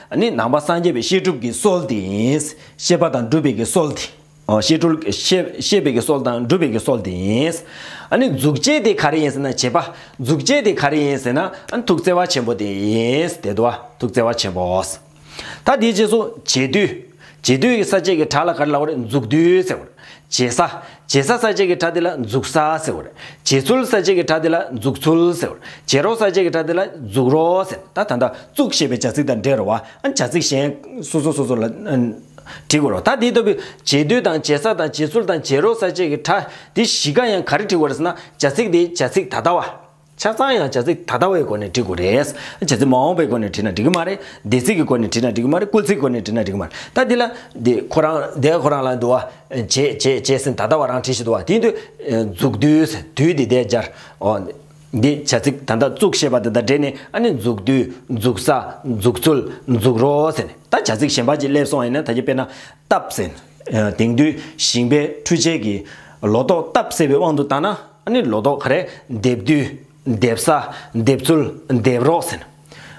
ནི་ནང་པ་སངས་རྒྱས་པའི་བཤད་སྒྲུབ་ཀྱི་སྲོལ་དེ་ཡིན། བཤད་པ་དང་སྒྲུབ་པའི་ཀྱི་སྲོལ་དེ། བཤད་པའི་ཀྱི་སྲོལ་དང་སྒྲུབ་པའི་ཀྱི་སྲོལ་དེ་ཡིན། ནི་འཛུགས་བྱེད་དེ་ག་རེ་ཡིན་ཟེར་ན་བྱེད་པ། འཛུགས་བྱེད་དེ་ག་རེ་ཡིན་ཟེར་ན་ཐུགས་བརྩེ་བ་ཆེན་པོ་དེ་ཡིན། དེ་དུ་བ། ཐུགས་བརྩེ་བ་ཆེན་པོ། ད་དེའི་རྗེས་སུ། བྱེད་དུས། རྗེས་ཟློས་ཀྱི་ས་བཅད་ཀྱི་གྲྭ་ལ་གར་ལ་བར་འཛུགས་ཟློས་ཟེར། རྗེས་ས། རྗེས་ས་ས་བཅད་ཀྱི་གྲྭ་དེ་ལ་འཛུགས་ས་ཟེར། རྗེས་ཚུལ་ས་བཅད་ཀྱི་གྲྭ་དེ་ལ་འཛུགས་ཚུལ་ཟེར། རྗེས་རོགས་ས་བཅད་ཀྱི་གྲྭ་དེ་ལ་འཛུགས་རོགས་ཟེར། ད་ད་ད། བཙུགས་ཞེས་པའི་བྱ་ཚིག་དང་འབྲེལ་བ། བྱ་ཚིག་གཞན། སོ་སོ་སོ་སོ་ལ། བྲི་དགོས་རོགས། ད་དེ་ལྟ་བུའི། རྗེས་ཟློས་དང་རྗེས་ས་དང་རྗེས་ཚུལ་དང་རྗེས་རོགས་ས་བཅད་ཀྱི་གྲྭ། འདི་བཞི་ཀ་ཡང་ག་རེ་བྲི་དགོས་རེད་ཟེར་ན། བྱ་ཚིག་དེ་བྱ་ཚིག་ད་ལྟ་བ། ཆ་ཚང་ཡང་བྱ་ཚིག་ད་ལྟ་བའི་སྒོ་ནས་འབྲི་དགོས་རེད། བྱ་ཚིག་མ་འོངས་པའི་སྒོ་ནས་བྲིས་ན་འགྲིག་གི་མ་རེད། འདས་ཚིག་གི་སྒོ་ནས་བྲིས་ན་འགྲིག་གི་མ་རེད་སྐུལ་ཚིག་སྒོ་ནས་བྲིས་ན་འགྲིག་གི་མ་རེད། ད་འདི་ལ། འདི་ཁོ་རང་འདས་ཁོ་རང་ལ་འདུལ་བ། བྱས་བྱས་བྱས་ཟིན་ད་ལྟ་བ་རང་བྲིས་ཤིག་འདུལ་བ་དེ་འདུལ། འཛུགས་འདུལ། འདུལ་འདི་འདས་སྦྱར། འོ། འདི་བྱ་ཚིག་ད་ལྟ་བཙུགས་ཞེས་པ་དེ་དང་འབྲེལ་ནས་ཨ་ནི་འཛུགས་འདུལ། འཛུགས་ས། འཛུགས་ཚུལ། འཛུགས་རོགས་ཟེར་ནས་ད་བྱ་ཚིག་གཞན་པ་ཅིག་སླེབས་སོང་ཡིན་ན་ད་གྱིས་དཔེར་ན། སྟབས། དེང་དུས་ཞིང་པའི་འཕྲུལ་ཆས་ཀྱིས། ལོ་ཏོག་སྟབས་བསལ་བའི་དབང་དུ་བཏང་ན། ཨ་ནི་ལོ་ཏོག་ག་རེ་འདེབས་དུས། འདེབས་ས། འདེབས་ཚུལ། འདེབས་རོགས་ཟེར།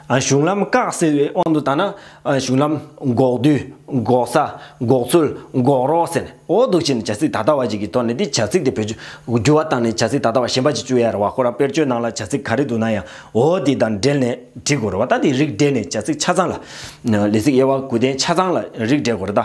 གཞུང་ལམ་བཀག་ཟེར་བའི་དབང་དུ་བཏང་ན། གཞུང་ལམ། འགོག་དུས། འགོག་ས། འགོག་ཚུལ། འགོག་རོགས་ཟེར། འོ་འདུག་ཕྱིན་ནས་བྱ་ཚིག་ད་ལྟ་བ་ཞིག་གི་ཐོག་ནས་འདི་བྱ་ཚིག་དེ་བོད་བརྗོད། འགྱུར་བ་བཏང་ནས་བྱ་ཚིག་ད་ལྟ་བ་གཞན་པ་ཞིག་བཅོས་ཡ་ར་བ་ཁོ་རང་དཔེར་བརྗོད་ནང་ལ་བྱ་ཚིག་ག་རེ་འདུག་ན་ཡང་འོ་དེ་དང་འབྲེལ་ནས་བྲིས་དགོས་རོ་བ་ད་དེ་རིགས་བསྒྲེས་ནས་བྱ་ཚིག་ཆ་ཚང་ལ། ལས་ཚིག་དབྱེ་བ་དགུ་ལྡན་ཆ་ཚང་ལ་རིགས་བསྒྲེས་དགོས་རོ་ད།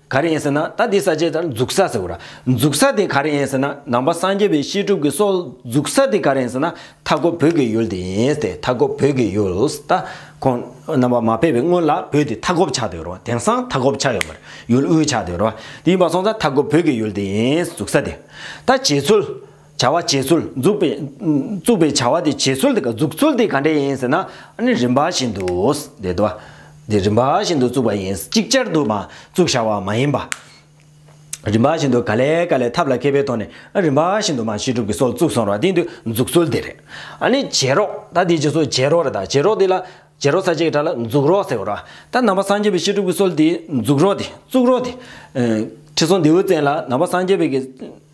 ག་རེ་ཡིན་ཟེར་ན་ད་འདི་ཟ་བྱས་ཙང་འཛུག་ས་ཟེར་བ། འཛུག་ས་དེ་ག་རེ་ཡིན་ཟེར་ན་ནང་པ་སངས་རྒྱས་པའི་བཤད་སྒྲུབ་ཀྱི་སྲོལ་འཛུག་ས་དེ་ག་རེ་ཡིན་ཟེར་ན་མཐའ་སྐོར་བོད་ཀྱི་ཡུལ་དེ་ཡིན་ཏེ་མཐའ་སྐོར་བོད་ཀྱི་ཡུལ་ད་ཁོང་རྣམ་པ་མ་ཕེབས་པའི་སྔོན་ལ་བོད་དེ་མཐའ་འཁོབ་ཆགས་དེ་རོ་དེང་སང་མཐའ་འཁོབ་ཆགས་ཡོད་མ་རེད་ཡུལ་དབུས་ཆགས་དེ་རོ་དེ་ཡིན་པ་སོང་ཙང་མཐའ་སྐོར་བོད་ཀྱི་ཡུལ་དེ་ཡིན་འཛུག་ས་དེ་ད་བྱེད་ཚུལ། བྱ་བ་བྱེད་ཚུལ་འཛུགས་པའི། བཙུགས་པའི་བྱ་བ་དེ་བྱེད་ཚུལ་དེ་ག་འཛུགས་ཚུལ་དེ་ག་འདྲ་ཡིན་ཟེར་ན། ནི་རིམ་པ་བཞིན་དུ། དེ་དོ། དེ་རིམ་པ་བཞིན་དུ་བཙུགས་པ་ཡིན། ཅིག་ཅར་དུ་མ་བཙུགས་བྱ་བ་མ་ཡིན་པ། རིམ་པ་བཞིན་དུ་ག་ལས་ག་ལས་ཐབས་ལ་མཁས་པའི་ཐོག་ནས་རིམ་པ་བཞིན་དུ་མ་བྱེད་སྒྲུབ་ཀྱི་སྲོལ་བཙུགས་སོང་ར་དེ་དུས་འཛུགས་ཚུལ་དེ་རེད། ནི་བྱེད་རོགས་ད་དེ་རྗེས་སུ་བྱེད་རོགས་རེ་ད་བྱེད་རོགས་དེ་ལ། བྱེད་རོགས་ས་བཅད་ཀྱི་སྒྲ་ལ་འཛུགས་རོགས་ཟེར་རོ། ད་ནང་པ་སངས་རྒྱས་པའི་བཤད་སྒྲུབ་ཀྱི་སྲོལ་དེ་འཛུགས་རོགས་དེ་བཙུགས་རོགས་དེ། ཁྲི་སྲོང་ལྡེའུ་བཙན་ལ་ནང་པ་སངས་རྒྱས་པའི།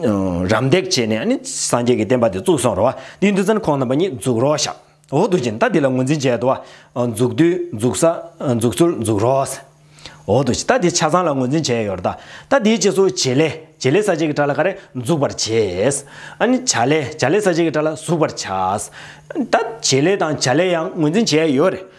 རམ་འདེགས་བྱས་ནས་ནི་སངས་རྒྱས་ཀྱི་བསྟན་པ་འདི་བཙུགས་སོང་རོ། དེའི་འདུལ་ཚན་ཁོང་རྣམ་པ་གཉིས་འཛུགས་རོགས་ཤག། འོག་ཏུ་སྦྱིན་བདག་འདི་ལ་ངོས་འཛིན་བྱས་འདུག། འཛུགས་དུས་འཛུགས་ས་འཛུགས་ཚུལ་འཛུགས་རོགས། འོག་ཏུ་སྦྱིན་བདག་འདི་ཆ་ཚང་ལ་ངོས་འཛིན་བྱས་ཡོད་རྟ། ད་དེའི་རྗེས་སུ་བྱེད་ལས་བྱེད་ལས་ས་བཅད་ཀྱི་དྲ་ལ་ཀ་རེ་འཛུགས་པར་བྱས། ནི་བྱ་ལས་བྱ་ལས་ས་བཅད་ཀྱི་དྲ་ལ་གཟུགས་པར་བྱ། ད་བྱེད་ལས་དང་བྱ་ལས་ཡང་ངོས་འཛིན་བྱས་ཡོད་རེད།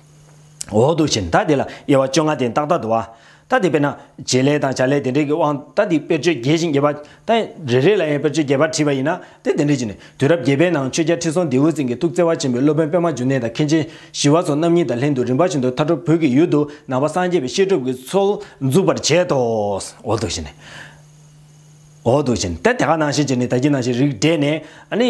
འོག་ཏུ་བྱིན་ད་དེ་ལ་དབྱེ་བ་བཅོ་ལྔ་སྟེ་རྟག་རྟག་ཏུ་བ། ད་དེ་དཔེར་ན། བྱེད་ལས་དང་བྱ་ལས་དེ་འབྲེལ་གྱི་དབང་ད་དེའི་དཔེར་བརྗོད་རྒྱས་ཤིང་རྒྱས་པ། ད་རེ་རེ་ལ་ཡང་དཔེར་བརྗོད་རྒྱས་པར་བྲིས་པ་ཡིན་ན་དེ་དེ་འབྲེལ་གྱི་ནི། དུས་རབས་བརྒྱད་པའི་ནང་ཆོས་རྒྱལ་ཁྲི་སྲོང་ལྡེའུ་བཙན་གྱི་ཐུགས་བརྩེ་བ་ཆེན་པོས་སློབ་དཔོན་པད་མ་འབྱུང་གནས་དང་མཁན་ཆེན་ཞི་བ་སོགས་རྣམ་གཉིས་དང་ལྷན་དུ་རིམ་པ་བཞིན་དུ་མཐར་ཁྲོ་བོད་ཀྱི་ཡུལ་དུ་ནང་པ་སངས་རྒྱས་པའི་བཤད་སྒྲུབ་ཀྱི་ཚོལ་འཛུགས་པར་བྱས་ཏོ། འོག་ཏུ་བྱིན། འོག་ཏུ་བྱིན་ད་དེ་ཀ་ནང་བཞིན་གྱི་ནི་ད་ཀྱི་ནང་བཞིན་རིགས་བསྒྲེས་ནས། ནི།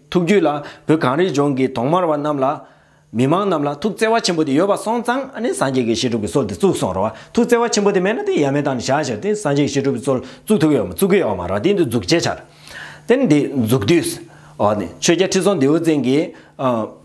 ཐུགས་རྒྱུད་ལ་བོད་གངས་རིའི་ལྗོངས་ཀྱི་གདོང་དམར་བ་རྣམས་ལ། མི་མང་རྣམས་ལ་ཐུགས་བརྩེ་བ་ཆེན་པོ་དེ་ཡོད་པ་སོང་ཙང་ཨ་ནི་སངས་རྒྱས་ཀྱི་བཤད་སྒྲུབ་ཀྱི་སྲོལ་དེ་བཙུགས་སོང་རོགས་ཐུགས་བརྩེ་བ་ཆེན་པོ་དེ་མེད་ན་དེ་ཡ་མེད་དང་ནི་བྱ་བྱེད་དེ་སངས་རྒྱས་ཀྱི་བཤད་སྒྲུབ་ཀྱི་སྲོལ་བཙུགས་ཐུབ་ཀྱི་ཡོད་མ་བཙུགས་ཀྱི་ཡོད་མ་རོགས་དེ་འདི་འཛུགས་བྱེད་འཆར་དེ་ནི་འདི་འཛུགས་དུས། ཨོ་ནི་ཆོས་རྒྱལ་ཁྲི་སྲོང་ལྡེའུ་བཙན་གྱིས།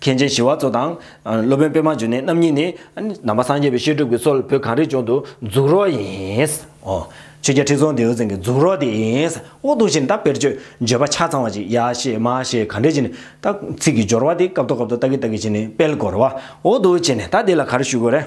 མཁན་ཆེན་ཞི་བ་འཚོ་དང། སློབ་དཔོན་པདྨ་འབྱུང་གནས་རྣམ་གཉིས་ནི། ནང་པ་སངས་རྒྱས་པའི་བཤད་སྒྲུབ་ཀྱི་སྲོལ་ལ་བོད་གངས་རིའི་ལྗོངས་དུ་འཛུགས་རོགས་ཡིན། ཆོས་རྒྱལ་ཁྲི་སྲོང་ལྡེའུ་བཙན་གྱི་འཛུགས་རོགས་དེ་ཡིན། དབུ་གདུགས་ཤིང་རྟ་དཔེར་བརྗོད་བརྗོད་པ་ཆ་ཚང་བ་ཅིག་ཡ་ཞེས་མ་ཞེས་ག་འདྲས་བྱས་ནས་ཏག། ཚིག་གི་སྦྱོར་བ་དེ་སྐབས་ཐོག་སྐབས་ཐོག་ལྟག་གི་ལྟག་གི་བྱས་ནས་དཔལ་གོ་ར་བ། དབུ་གདུགས་བྱས་ནས་རྟ་དེ་ལ་ག་རེ་ཞུ་དགོས་རེད།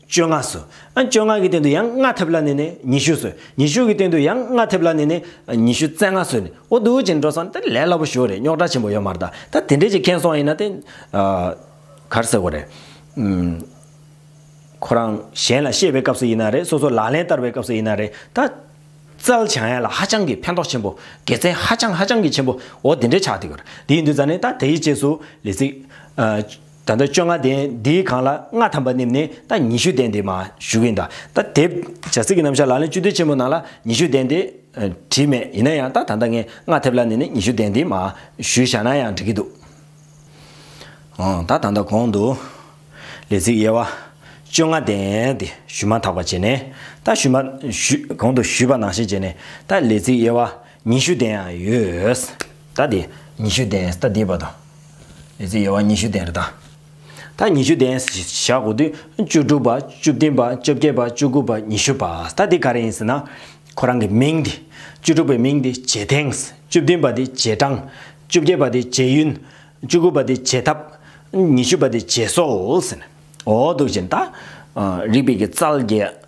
བཅོ་ལྔ་སོ། བཅོ་ལྔ་གི་སྟེང་དུ་ཡང་ལྔ་ཐེབས་ལ་ནི་ནི་ཉི་ཤུ་སོ། ཉི་ཤུ་གི་སྟེང་དུ་ཡང་ལྔ་ཐེབས་ལ་ནི་ནི་ཉི་ཤུ་རྩེ་ལྔ་སོ། འོ་འདུག་ཅིང་འགྲོ་བསམ་ལས་སླ་པོ་ཞུ་རེད་རྙོག་དྲ་ཆེན་པོ་ཡོད་མ་རེད་ད། ད་དེ་འདྲས་ཀྱི་མཁན་སོང་ཡིན་ན་དེ། གར་ཟེར་དགོས་རེད། ཁོ་རང་གཞན་ལ་བཤད་པའི་སྐབས་སུ་ཡིན་ན་རེད་སོ་སོ་ལག་ལེན་བསྟར་བའི་སྐབས་སུ་ཡིན་ན་རེད་ད། རྩལ་བྱང་ཡ་ལ་ཧ་ཅང་གི་ཕན་ཐོགས་ཆེན་པོ་དགེ་མཚན་ཧ་ཅང་ཧ་ཅང་གི་ཆེན་པོ་འོ་དེ་འདྲས་ཆགས་འདུག་གར་དེ་ཡིན་དུས་ད་ནི་ད་དེ་ཡི་རྗེས་སུ་ལི་ཚིག། ད་ལྟ་བཅོ་ལྔ་ལྡན་འདིའི་གང་ལ་ལྔ་ཐམ་པ་བསྣིབས་ནས་ད་ཉི་ཤུ་ལྡན་འདི་མ་ཞུ་གིན་ད། ད་དེབ་བྱ་ཚིག་གི་རྣམ་བཞག་ལག་ལེན་བཅུ་བདེ་ཆེན་པོ་ནང་ལ་ཉི་ཤུ་ལྡན་འདི། བྲིས་མེད་ཡིན་ན་ཡང་ད་ད་ལྟ་ངས་ལྔ་ཐེབ་ལ་བསྣིབས་ནས་ཉི་ཤུ་ལྡན་འདི་མ་ཞུ་བཞག་ན་ཡང་འགྲིག་གི་འདུག། འོང་ད་ད་ད་གོང་དུ། ལས་ཚིག་དབྱེ་བ། བཅོ་ལྔ་ལྡན་འདི་ཞུ་མ་ཐག་པ་བྱས་ནས་ད་ཞུ་མ། གོང་དུ་ཞུས་པ་ནང་བཞིན་བྱས་ནས་ད་ལས་ཚིག་དབྱེ་བ། ཉི་ཤུ་ལྡན་ཡང་ཡོད། ད་དེ། ཉི་ཤུ་ལྡན་ད་དེ་བ་དང། ཨེ་ཙི་ཡེ་བ་ཉི་ཤུ་ལྡན་རེ་ད། ད་ཉི་ཤུ་ལྡན་བཞག་གོ་དུས་བཅུ་དྲུག་པ་བཅུ་བདུན་པ་བཅོ་བརྒྱད་པ་བཅུ་དགུ་པ་ཉི་ཤུ་པ་ད་དེ་ག་རེ་ཡིན་ཟེར་ན། ཁོ་རང་གི་མིང་དེ། བཅུ་དྲུག་པའི་མིང་དེ་རྗེས་དེང། བཅུ་བདུན་པ་དེ་རྗེས་འབྲང། བཅུ་བརྒྱད་པ་དེ་རྗེས་ཡུན། བཅུ་དགུ་པ་དེ་རྗེས་ཐབས། ཉི་ཤུ་པ་དེ་རྗེས་སྲོལ། འོ་འདུག་ཅིང་ད། རིགས་པའི་ཀྱི་རྩལ་རྒྱས།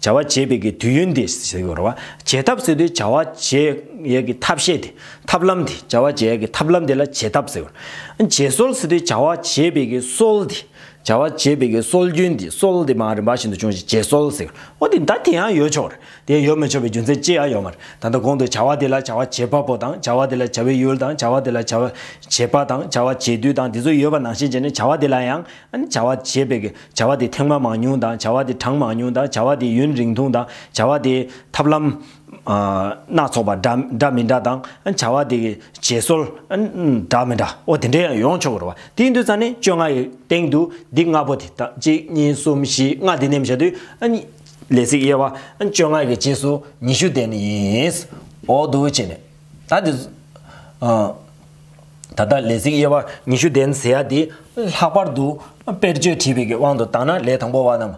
བྱ་བ་བྱེད་པའི་གི་དུས་ཡུན་དེ་ཟེར་གི་རོ། བྱེད་ཐབས་ཟེར་དུས་བྱ་བ་བྱེད་ཡས་གི་ཐབས་ཤེས་དེ། ཐབས་ལམ་དེ། བྱ་བ་བྱེད་ཡས་གི་ཐབས་ལམ་དེ་ལ་བྱེད་ཐབས་ཟེར། བྱེད་སྲོལ་ཟེར་དུས་བྱ་བ་བྱེད་པའི་གི་སྲོལ་དེ། བྱ་བ་བྱེད་པའི་གི་སྲོལ་རྒྱུན་དེ་སྲོལ་དེ་མ་རིན་པ་ཞིན་དུ་བྱུང་ཞིང་བྱེད་སྲོལ་ཟེར། ཨོ་དེ་ད་དེ་ཡང་ཡོད་ཆོག་རེད། དེ་ཡོད་མི་ཆོག་པའི་རྒྱུ་མཚན་ཅི་ཡང་ཡོད་མ་རེད། ད་ལྟ་གོང་དུ་བྱ་བ་དེ་ལ་བྱ་བ་བྱེད་པ་པོ་དང་བྱ་བ་དེ་ལ་བྱ་བའི་ཡུལ་དང་བྱ་བ་དེ་ལ་བྱ་བ་བྱེད་པ་དང་བྱ་བ་བྱེད་དུས་དང་དེ་ཚོ་ཡོད་པ་ནང་བཞིན་བྱས་ནས་བྱ་བ་དེ་ལ་ཡང་བྱ་བ་བྱེད་པའི་བྱ་བ་དེ་ཐེངས་མ་མང་ཉུང་དང་བྱ་བ་དེ་གྲངས་མང་ཉུང་དང་བྱ་བ་དེ་ཡུན་རིང་ཐུང་དང་བྱ་བ་དེའི་ཐབས་ལམ། སྣ་ཚོགས་པ་འདྲ་མི་འདྲ་དང་བྱ་བ་དེ་གི་བྱེད་སྲོལ་འདྲ་མི་འདྲའོ་དེ་འདྲའི་ཡང་ཡོང་ཆོག་གི་རོ། དེའི་མདུད་རྩ་ནི་བཅོ་ལྔ་ཡི་སྟེང་དུ་འདི་ལྔ་པོ་དེ་དང་གཅིག་གཉིས་གསུམ་བཞི་ལྔ་དེ་ནེམ་བྱ་དུས། ལས་ཚིགས་དབྱེ་བ་བཅོ་ལྔ་གི་རྗེས་སུ་ཉི་ཤུ་དེ་ནི་ཡིན། འོག་ཏུ་བྱས་ནས། ད་དེ། ད་ལྟ་ལས་ཚིགས་དབྱེ་བ་ཉི་ཤུ་ལྡན་ཟེར་ཡ་དེ། ལྷག་པར་དུ་དཔེར་བརྗོད་བྲིས་པའི་དབང་དུ་བཏང་ན་ལས་དང་པོ་བ་རྣམས།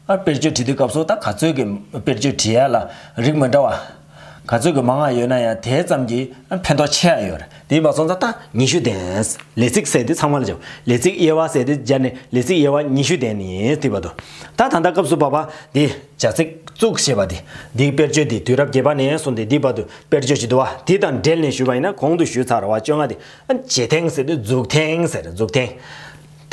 དཔེར་བརྗོད་བྲིས་དུས་སྐབས་སུ་ད་ག་ཚོད་ཀྱི་དཔེར་བརྗོད་བྲིས་ཡ་ལ་རིགས་མི་འདྲ་བ། ག་ཚོད་ཀྱི་མ་ངག་ཡོད་ན་ཡང་དེ་ཙམ་གྱིས་ཕན་ཐོགས་ཆེ་ཡ་ཡོད། དེའི་བ་སོང་ད་ལྟ་ཉི་ཤུ་ལྡན། ལས་ཚིགས་ཟེར་དེ་ཚང་མ་ལ་བྱའོ། ལས་ཚིགས་དབྱེ་བ་ཟེར་དེ་སྦྱར་ནས་ལས་ཚིགས་དབྱེ་བ་ཉི་ཤུ་ལྡན་ནི་ཐིག་པ་དོ། ད་ད་ལྟ་སྐབས་སུ་བབ་པ་དེ། བྱ་ཚིག། གཙུག་ཞེས་པ་སྟེ། འདིའི་དཔེར་བརྗོད་འདི་དུས་རབས་བརྒྱད་པ་ནས་བཟུང་སྟེ་འདིའི་བར་དུ་དཔེར་བརྗོད་ཅི་འདུག་བ། དེ་དང་འབྲེལ་ནས་ཞུས་པ་ཡིན་ན་གོང་དུ་ཞུས་ཚར་བ་བཅོ་ལྔ་སྟེ། བྱེད་ཐེངས་ཟེར་དུས་འཛུགས་ཐེངས་ཟེར་འཛུགས་ཐེངས།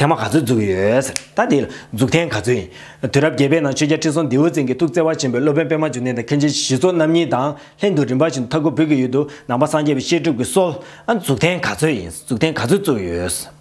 ཐེངས་མ་ག་ཚོད་འཛུགས་ཡོད་ཟེར་ད་དེ་ལ་འཛུགས་ཐེངས་ག་ཚོད་ཡིན། དུས་རབས་བརྒྱད་པའི་ནང་ཆོས་རྒྱལ་ཁྲི་སྲོང་ལྡེའུ་བཙན་གྱི་ཐུགས་བརྩེ་བ་ཆེན་པོས་སློབ་དཔོན་པད་མ་འབྱུང་ལྡན་དང་མཁན་ཆེན་ཞི་འཚོ་རྣམ་གཉིས་དང་ལྷན་དུ་རིམ་པ་བཞིན་དུ་མཐའ་འཁོབ་བོད་ཀྱི་ཡུལ་དུ་ནང་པ་སངས་རྒྱས་པའི་བཤད་སྒྲུབ་ཀྱི་སྲོལ་འཛུགས་ཐེངས་ག་ཚོད་ཡིན་འཛུགས་ཐེངས་ག་ཚོད་བཙུགས་ཡོད།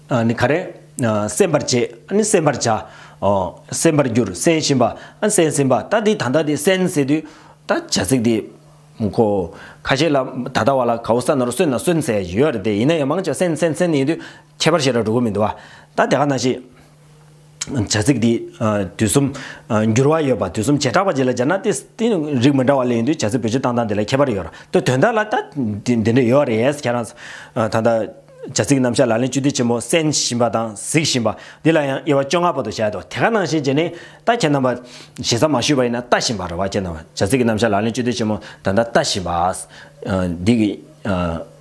ནི་ག་རེ། སེམས་པར་བྱེད། ནི་སེམས་པར་བྱ། འོ། སེམས་པར་འགྱུར། སེམས་བཞིན་པ། སེམས་ཟིན་པ། ད་འདི་ད་ལྟ་དེ་སེམས་ཟེར་དུས། ད་བྱ་ཚིག་འདི། གོ། ཁ་ཤས་ལ། ད་ལྟ་བ་ལ་ག་འོ་ས་ན་རུ་སོན་ན་གསོན་ཟེར་ཡོད་རེད་དེ་ཡིན་ན་ཡང་མང་ཆེ་བ་སེན་སེན་སེན་ཡིན་དུས། ཁྱད་པར་བྱེད་ར་འགྲོ་གི་མི་འདུག་བ། ད་དེ་ག་ན་ཤེས། བྱ་ཚིག་འདི་དུས་གསུམ། འགྱུར་བ་ཡོད་པ་དུས་གསུམ་བྱེ་བྲག་པ་བརྗེ་ལ་སྦྱར་ན་དེ་དེ་རིགས་མི་འདྲ་བ་ལས་ཡིན་དུས་བྱ་ཚིག་བེད་སྤྱོད་སྟངས་དང་དེ་ལ་ཁྱད་པར་ཡོད་ར་ལྟོས་དོན་དག་ལ་ད་དེ་འདི་འདྲ་ཡོད་རེད་ཁྱེད་རང། ད་ལྟ། བྱ་ཚིག་རྣམ་གཞག་ལག་ལེན་བཅུ་སྡེ་ཆེན་མོ་གསན་བཞིན་པ་དང་གཟིགས་བཞིན་པ། འདི་ལ་ཡང་དབྱེ་བ་བཅོ་ལྔ་པོ་དུ་བྱས་འདུག་དེ་ག་ནང་བཞིན་བྱས་ནས་ད་ཁྱེད་རྣམ་པ། ཞེ་ས་མ་ཞུས་པ་ཡིན་ན་ལྟ་བཞིན་པ་རེད་བ་ཁྱེད་རྣམ་པ་བྱ་ཚིག་རྣམ་གཞག་ལག་ལེན་བཅུ་སྡེ་ཆེན་མོ་ད་ལྟ་ལྟ་བཞིན་པ། འདི་གི།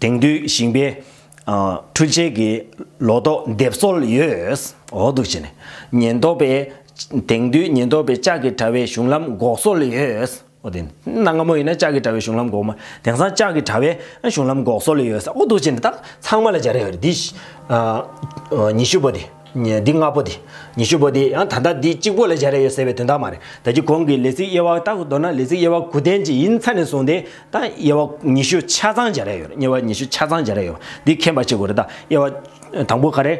དེང་དུས་ཞིང་པའི་འཕྲུལ་ཆས་ཀྱི་ལོ་ཏོག་འདེབས་སྲོལ་ཡོད། འོག་ཏུ་བྱས་ནས། ཉེན་རྟོག་པས། དེང་དུས་ཉེན་རྟོག་པས་ལྕགས་ཀྱི་དྲ་བའི་གཞུང་ལམ་འགོག་སྲོལ་ཡོད། འོག་ཏུ། གནའ་སྔ་མོ་ཡིན་ན་ལྕགས་ཀྱི་དྲ་བའི་གཞུང་ལམ་འགོག་མ། དེང་སང་ལྕགས་ཀྱི་དྲ་བའི་གཞུང་ལམ་འགོག་སྲོལ་ཡོད། འོག་ཏུ་བྱས་ནས། ཚང་མ་ལ་སྦྱར་ཡོད། འདི། ཉི་ཤུ་པོ་དེ། འདི་ལྔ་པོ་དེ། ཉི་ཤུ་པོ་དེ་ཡང་ད་ལྟ་འདི་གཅིག་པོ་ལས་བྱ་རེ་ཡོད་ཟེར་བའི་དོན་དག་མ་རེད། ད་ཅི་གོང་གི་ལས་ཚིག་དབྱེ་བ་ལྟ་བུ་མདོར་ན་ལས་ཚིག་དབྱེ་བ་དགུ་ལྡན་གྱི་ཡིན་ཚ་ནས་བཟུང་སྟེ། ད་དབྱེ་བ་ཉི་ཤུ་ཆ་ཚང་བྱ་རེ་ཡོད། དབྱེ་བ་ཉི་ཤུ་ཆ་ཚང་བྱ་རེ་ཡོད་པ་འདི་མཁྱེན་པར་བྱེད་དགོས་རེད་ད། དབྱེ་བ། དང་པོ་ག་རེ།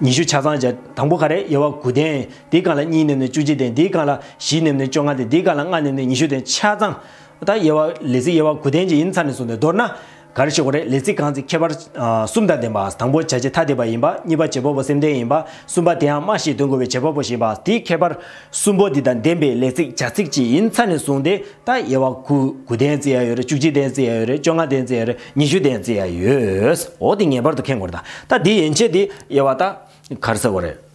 ཉི་ཤུ་ཆ་ཚང་བྱ། དང་པོ་ག་རེ་དབྱེ་བ་དགུ་ལྡན། འདིའི་སྒང་ལ་གཉིས་ནེམ་ནས་བཅུ་གཅིག་ལྡན་འདིའི་སྒང་ལ་བཞི་ནེམ་ནས་བཅོ་ལྔ་ལྡན་འདིའི་སྒང་ལ་ལྔ་ནེམ་ནས་ཉི་ཤུ་ལྡན་ཆ་ཚང། ད་དབྱེ་བ་ལས་ཚིག་དབྱེ་བ་དགུ་ལྡན་གྱི་ཡིན་ཚ་ནས་བཟུང་སྟེ་མདོར་ན། ག་རེ་ཞིག་གོ་རེ་ལས་ཚིག་གང་ཚིག་ཁྱད་པར་གསུམ་དང་ལྡན་པ་དང་པོ་བྱ་བྱེད་ཐ་དད་པ་ཡིན་པ་གཉིས་པ་བྱེད་པ་པོ་སེམས་ལྡན་ཡིན་པ་གསུམ་པ་དེའང་སྨྲ་ཞེས་དོན་གོ་བའི་བྱེད་པ་པོ་ཞེས་པ་དེའི་ཁྱད་པར་གསུམ་པོ་འདི་དང་ལྡན་པའི་ལས་ཚིག་བྱ་ཚིག་ཅི་ཡིན་ཚར་ནས་བཟུང་སྟེ་ད་དབྱེ་བ་དགུ་དགུ་ལྡན་བརྩི་ཡ་ཡོད་རེད་བཅུ་གཅིག་ལྡན་བརྩི་ཡ་ཡོད་རེད་བཅོ་ལྔ་ལྡན་བརྩི་ཡ་རེད་ཉི་ཤུ་ལྡན་བརྩི་ཡ་ཡོད་འོ་དེ་ངེས་པར་དུ་མཁྱེན་དགོས་རེད་ད་ད་དེའི་ཡན་ཆད་དེ་དབྱེ་བ་ད་ག་རེ་ཟེར་གོ་རེད།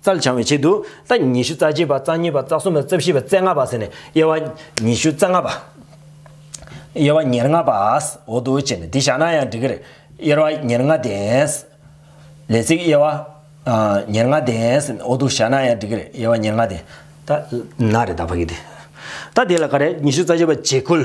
རྩལ་འཆང་བའི་ཆེད་དུ། རྩ་ཉི་ཤུ་རྩ་གཅིག་པ་རྩ་གཉིས་པ་རྩ་གསུམ་པ་རྩ་བཞི་པ་རྩེ་ལྔ་པ་ཟེར་ནས་དབྱེ་བ། ཉི་ཤུ་རྩ་ལྔ་པ། དབྱེ་བ་ཉེར་ལྔ་པ། འོ་དོ་བྱས་ནས་འདི་བཞག་ན་ཡང་འགྲིག་གི་རེད། དབྱེ་བ་ཉེར་ལྔ་ལྡན། ལས་ཚིག་དབྱེ་བ། ཉེར་ལྔ་ལྡན། འོ་དོ་བཞག་ན་ཡང་འགྲིག་གི་རེད་དབྱེ་བ་ཉེར་ལྔ་ལྡན། ད། ན་རེ་ད་ཕ་གི་དེ། ད་དེ་ལ་ག་རེ། ཉི་ཤུ་རྩ་གཅིག་པ་བྱེ་ཁུལ།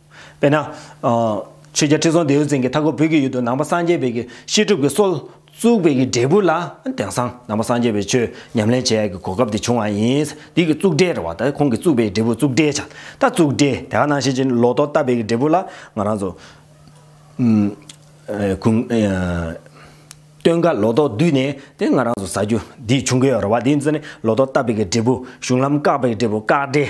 དཔེར་ན། ཆོས་རྒྱལ་ཁྲི་སྲོང་ལྡེའུ་བཙན་གྱི་མཐའ་འཁོར་བོད་ཀྱི་ཡུལ་དུ་ནང་པ་སངས་རྒྱས་འབེལ་གྱི་བཤད་སྒྲུབ་ཀྱི་སྲོལ་བཙུགས་པའི་གི་འབྲས་བུ་ལ་དེང་སང་ནང་པ་སངས་རྒྱས་པའི་ཆོས་ཉམས་ལེན་བྱེད་ཡག་གི་གོ་སྐབས་དེ་བྱུང་བ་ཡིན། འདི་གི་བཙུགས་འབྲས་རེད་བ་ད་ཁོང་གི་བཙུགས་པའི་འབྲས་བུ་བཙུགས་འབྲས་བྱ། ད་བཙུགས་འབྲས་དེ་ག་ནང་ཤེས་ཀྱི་ལོ་ཏོག་བཏབ་པའི་གི་འབྲས་བུ་ལ་ང་རང་ཚོ། སྟོན་ཀ་ལོ་ཏོག་བསྡུས་ནས་དེ་ང་རང་ཚོ་ཟ་རྒྱུ་འདི་བྱུང་གི་ཡོད་རེད་བ་འདི་ཚོ་ནི་ལོ་ཏོག་བཏབ་པའི་གི་འབྲས་བུ་གཞུང་ལམ་བཀག་པའི་གི་འབྲས་བུ་བཀག་འབྲས།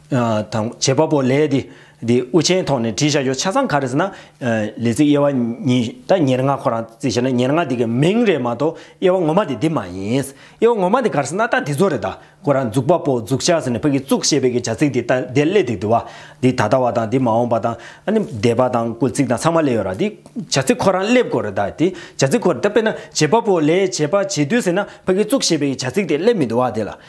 དང། བྱེད་པ་པོ་ལས་དེ་དེ་དབུ་ཅན་ཐོག་ནས་བྲིས་བྱ་རྒྱུ་ཆ་ཚང་ག་རེ་ཟེར་ན། ལས་ཚིག་དབྱེ་བ་གཉིས་དང་ཉེར་ལྔ་ཁོ་རང་བརྩིས་བྱས་ན་ཉེར་ལྔ་དེ་གའི་མིང་རེད་མ་གཏོགས་དབྱེ་བ་ངོ་མ་དེ་འདི་མ་ཡིན། དབྱེ་བ་ངོ་མ་དེ་ག་རེ་ཟེར་ན་ད་དེ་ཚོ་རེད་ད་ཁོ་རང་འཛུགས་པ་པོ་འཛུགས་བྱ་ཟེར་ནས་ཕ་གིས་བཙུགས་ཞེས་པའི་གི་བྱ་ཚིག་དེ་ད་དེ་སླེ་འདུག་དུ་བ། འདི་ད་ལྟ་བ་དང་འདི་མ་འོངས་པ་དང་ཨ་ནི་འདས་པ་དང་སྐུལ་ཚིག་དང་ཚང་མ་སླེ་ཡོད་ར་འདི་བྱ་ཚིག་ཁོ་རང་སླེ་དགོས་རེད་ད་དེ་བྱ་ཚིག་ཁོ་རེད་ད་དཔེར་ན་བྱེད་པ་པོ་ལས་བྱེད་པ་བྱེད་དུས་ཟེར་ན་ཕ་གིས་བཙུགས་ཞེས་པའི་གི་བྱ་ཚིག་དེ་སླེ་མི་འདུག་བ་དེ་ལ